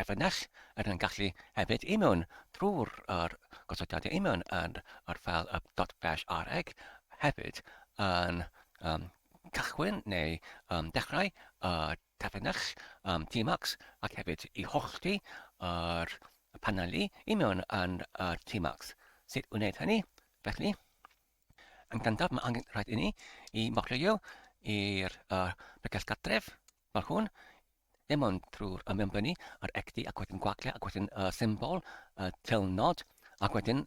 Terfynais er yn gallu hefyd i mewn drwy'r yr gosodiadau i mewn yn yr fel y dot bash areg hefyd yn um, cychwyn neu um, dechrau y terfynais um, Tmax ac hefyd i hollti yr paneli i mewn yn y Tmax. Sut wneud hynny? Felly, yn gyntaf mae angen rhaid i ni i mochlio i'r uh, bregell gartref, fel hwn, dim ond trwy'r ymwybynnu a'r egdi ac wedyn gwagle ac wedyn y symbol y tylnod ac wedyn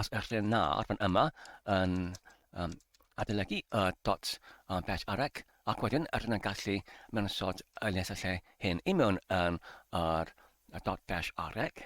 os yw'r lle na ar fan yma yn um, adolygu y dot um, pet arec ac wedyn yr yna'n gallu mewn sod y les y lle hyn i mewn yn yr dot dash arec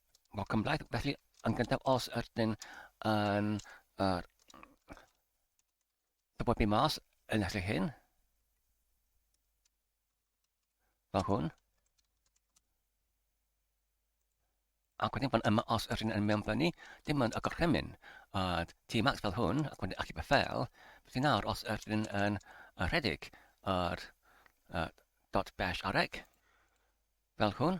Wel, cymlaeth, felly, yn gyntaf, os ydyn yn yr dyfodlu mas yn eich hyn, fel hwn, ac wedyn fan yma os ydyn yn mewn fyny, dim ond y gorchymyn, a T-max fel hwn, ac wedyn achub y fel, felly nawr os ydyn yn rhedeg yr uh, dot bash areg, fel hwn,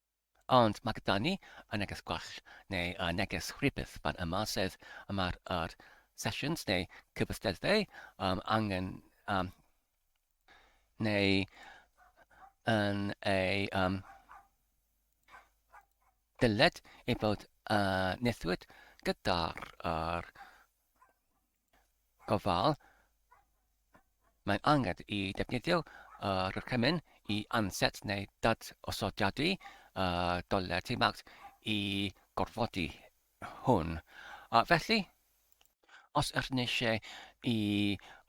Ond mae gyda ni y neges gwall neu y neges rhybudd fan yma, sef y mae'r er sesiwns neu cyfathreddau um, angen um, neu yn ei um, dyled ei bod uh, nethwyd gyda'r er, gofal, mae'n angen i ddefnyddio y rhaglen i anset neu dad-osodiadu y doler timag i gorfodi hwn. A felly, os ydyn eisiau i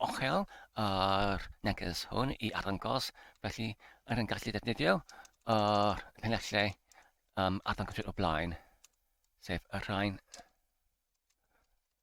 ochel yr neges hwn i arddangos, felly yr yn gallu ddefnyddio yr penellau um, arddangos o blaen, sef y rhain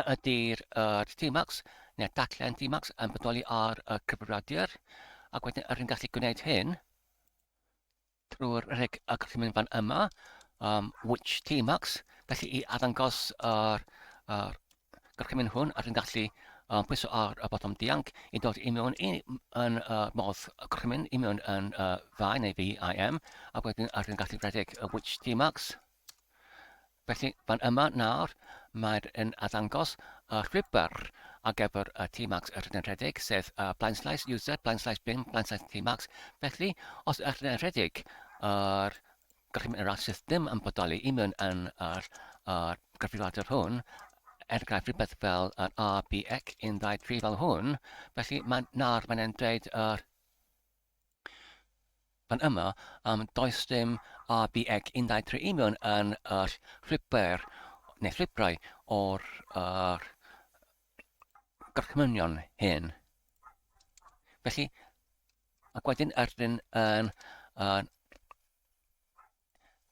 a ydy'r uh, Dmax neu'r daclen Dmax yn bodoli ar y cyfrifiadur ac wedyn yr hyn gallu gwneud hyn drwy'r rheg y gallu mynd fan yma um, which Dmax felly i addangos yr, yr gorchymyn hwn ar yn gallu um, pwyso ar y bottom dianc i dod i mewn i, yn uh, modd y gorchymyn i mewn yn uh, fai neu VIM a wedyn ar yn gallu rhedeg y which Dmax Felly, fan yma nawr, mae'n yn addangos y llwybr ar gyfer y Tmax yr yn rhedeg, sef y blaenslais user, blaenslais bin, blaenslais Tmax. Felly, os yr yn rhedeg, yr gallu mynd ar system yn bodoli i mewn yn yr, yr gyfrifiadur hwn, er enghraifft rhywbeth fel yr RBX 123 fel hwn, felly mae nawr mae'n dweud yr Pan yma am does dim ABX 13 union yn yr llwybr neu llwybrau o'r uh, gorchmynion hyn. Felly, ac wedyn erdyn yn uh,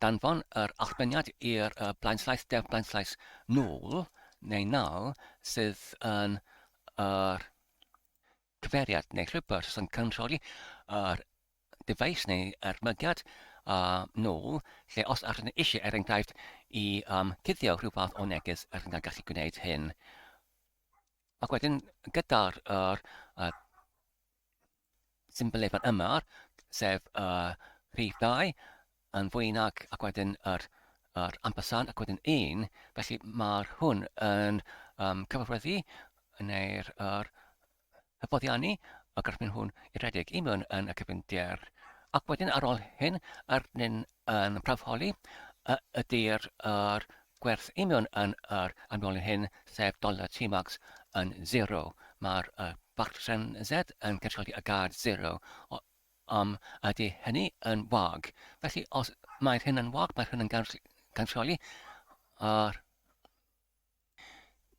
danfon yr allbeniad i'r uh, blaenslaeth def blaenslaeth nôl neu nal sydd yn yr uh, cyfeiriad neu rhywbeth sy'n cynrychioli yr dyfais neu ermygiad yn ôl, lle os ydych yn eisiau, er enghraifft, i um, cuddio rhyw fath o neges, ydych yn gallu gwneud hyn. Ac wedyn, gyda'r er, uh, symbolefan yma, sef uh, rhif 2, yn fwy nag ac wedyn yr, yr ampersand ac wedyn un, felly mae'r hwn yn um, cyfathrebu neu'r yr hyfforddiannu y gorffen hwn i redeg i mewn yn y cyfyndier. Ac wedyn ar ôl hyn, yr nyn yn prawfholi ydy'r yr gwerth i mewn yn yr amlolyn hyn, sef dollar T-max yn 0. Mae'r uh, bachgen Z yn cynrychioli y gad 0 Ond ydy hynny yn wag? Felly, os mae'r hyn yn wag, mae'r hyn yn cansioli. A'r...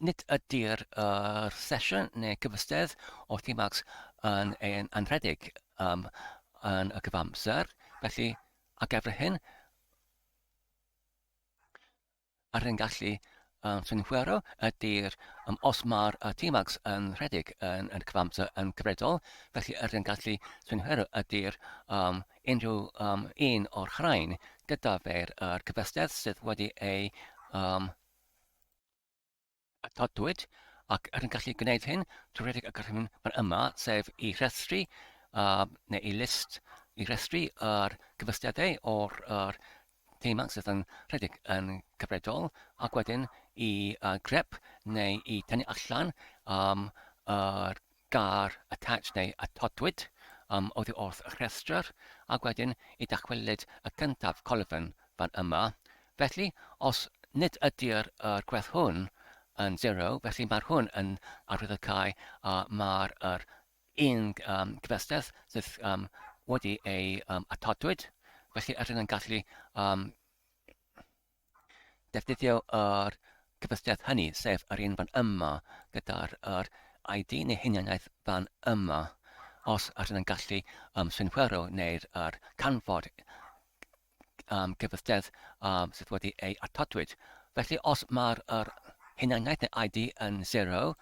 Nid ydy'r er sesiwn neu gyfystedd o themacs yn ein anrhedeg um, yn y cyfamser. Felly, ar gyfer hyn, yr hyn gallu um, synhwyro ydy'r um, os mae'r uh, T-max yn rhedeg yn, yn cyfamser yn gyfredol, felly yr hyn gallu synhwyro ydy'r um, unrhyw um, un o'r rhain gyda fe'r uh, cyfystedd sydd wedi ei um, atodwyd ac rydyn gallu gwneud hyn trwy redeg y gorchymyn fan yma, sef i rhestru uh, neu i list i rhestru yr cyfystyadau o'r er, teimau sydd yn rhedeg yn cyfredol ac wedyn i uh, grep neu i tynnu allan um, yr Gair attach neu attodwyd am oddi wrth y rhestr, ac wedyn y dychwelyd y cyntaf colofn fan yma. Felly, os nid ydy'r yr gwerth hwn yn zero, felly mae'r hwn yn arwyddocau a mae'r yr un um, cyfystedd sydd um, wedi ei um, attodwyd, felly yr hyn yn gallu um, Defnyddio yr cyfystyr hynny, sef yr un fan yma, gyda'r yr ID neu hunaniaeth fan yma, os ydyn yn gallu um, synhwyro neu'r yr canfod um, cyfystyr um, sydd wedi ei atodwyd. Felly os mae'r yr hunaniaeth neu ID yn 0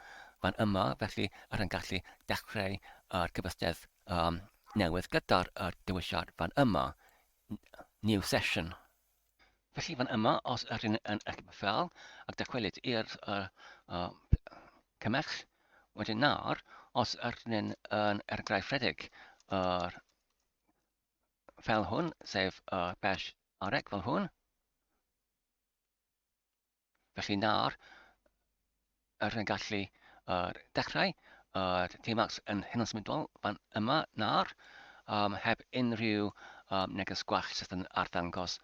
fan yma, felly yr yn gallu dechrau yr cyfystyr um, newydd gyda'r yr dewisiad fan yma, new session. Felly fan yma, os yr yn yn eich fel ac dychwelyd i'r uh, uh, cymell, wedyn nawr, os yr yn yn ergraif rhedeg yr uh, fel hwn, sef uh, bash arec fel hwn, Felly nawr, yr yn gallu er, dechrau yr T-Max yn hyn yn symudol fan yma nawr, um, heb unrhyw um, neges gwell sydd yn arddangos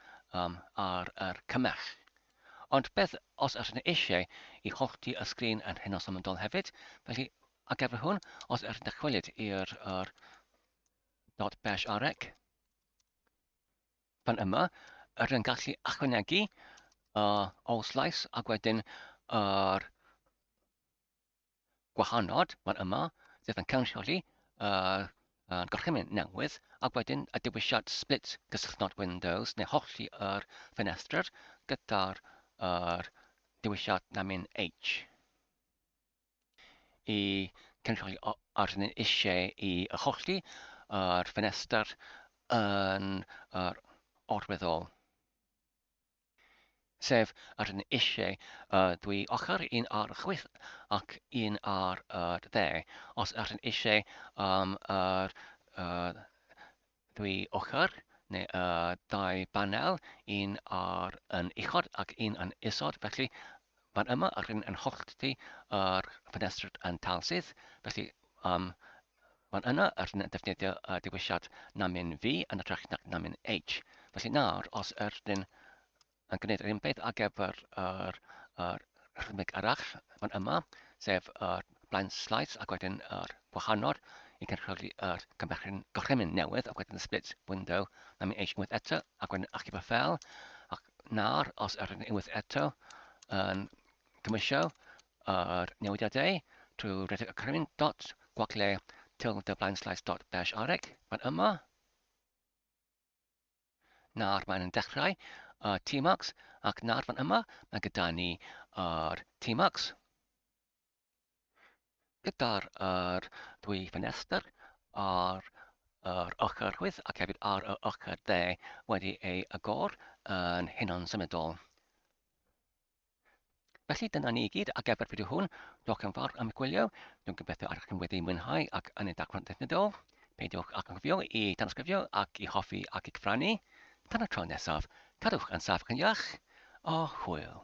um, ar yr cymell. Ond beth os ydych yn eisiau i hollti y sgrin yn hyn o symudol hefyd, felly a gefr hwn, os ydych yn dychwelyd i'r er, dot bash arec, fan yma, yr yn gallu ychwanegu uh, all slice ac wedyn yr uh, gwahanod fan yma, sef yn cynrychioli uh, uh, gorchymyn newydd, ac wedyn y dewisiad split cysylltnod Windows neu hollti yr er ffenestr gyda'r uh, dewisiad namin H. i cynrychioli os ydyn ni eisiau i achosi ar ffenestr yn yr orweddol. Sef, os ydyn ni eisiau uh, dwy ochr, un ar y chwith ac un ar y dde. Os ydyn ni eisiau um, yr, uh, Dwy ochr, neu y dau banel, un ar yn uchod ac un yn isod, felly fan yma yr hyn yn hollti yr ffenestr yn talsydd, felly um, fan yna yr hyn yn defnyddio y diwysiad namin V yn ytrach nac namin H. Felly nawr, os yr hyn yn gwneud yr un peth ar gyfer yr, yr rhymig arall fan yma, sef yr blaen slaes ac wedyn yr gwahanol i gynrychioli yr cymherchyn gorchymyn newydd ac wedyn y split window na mi eisiau unwaith eto ac wedyn achub y fel ac nawr os yr yn unwaith eto yn cymysio yr newidiadau trwy redeg y gorchymyn dot gwagle tilde blaen slaes dot dash areg fan yma Nawr mae'n yn dechrau uh, T-Max ac nawr fan yma mae gyda ni yr uh, T-Max gyda'r uh, dwy ffenestr ar yr ochr chwith ac hefyd ar yr ochr dde wedi ei agor yn hunan symudol. Felly dyna ni i gyd ar gyfer fideo hwn. Diolch yn fawr am y gwylio. Dwi'n gobeithio ar chi'n wedi mwynhau ac yn ei dacro'n ddefnyddiol. Peidiwch ac yn gofio i danysgrifio ac i hoffi ac i gyfrannu. Tan y tro nesaf, cadwch yn saff ac yn iach, a hwyl!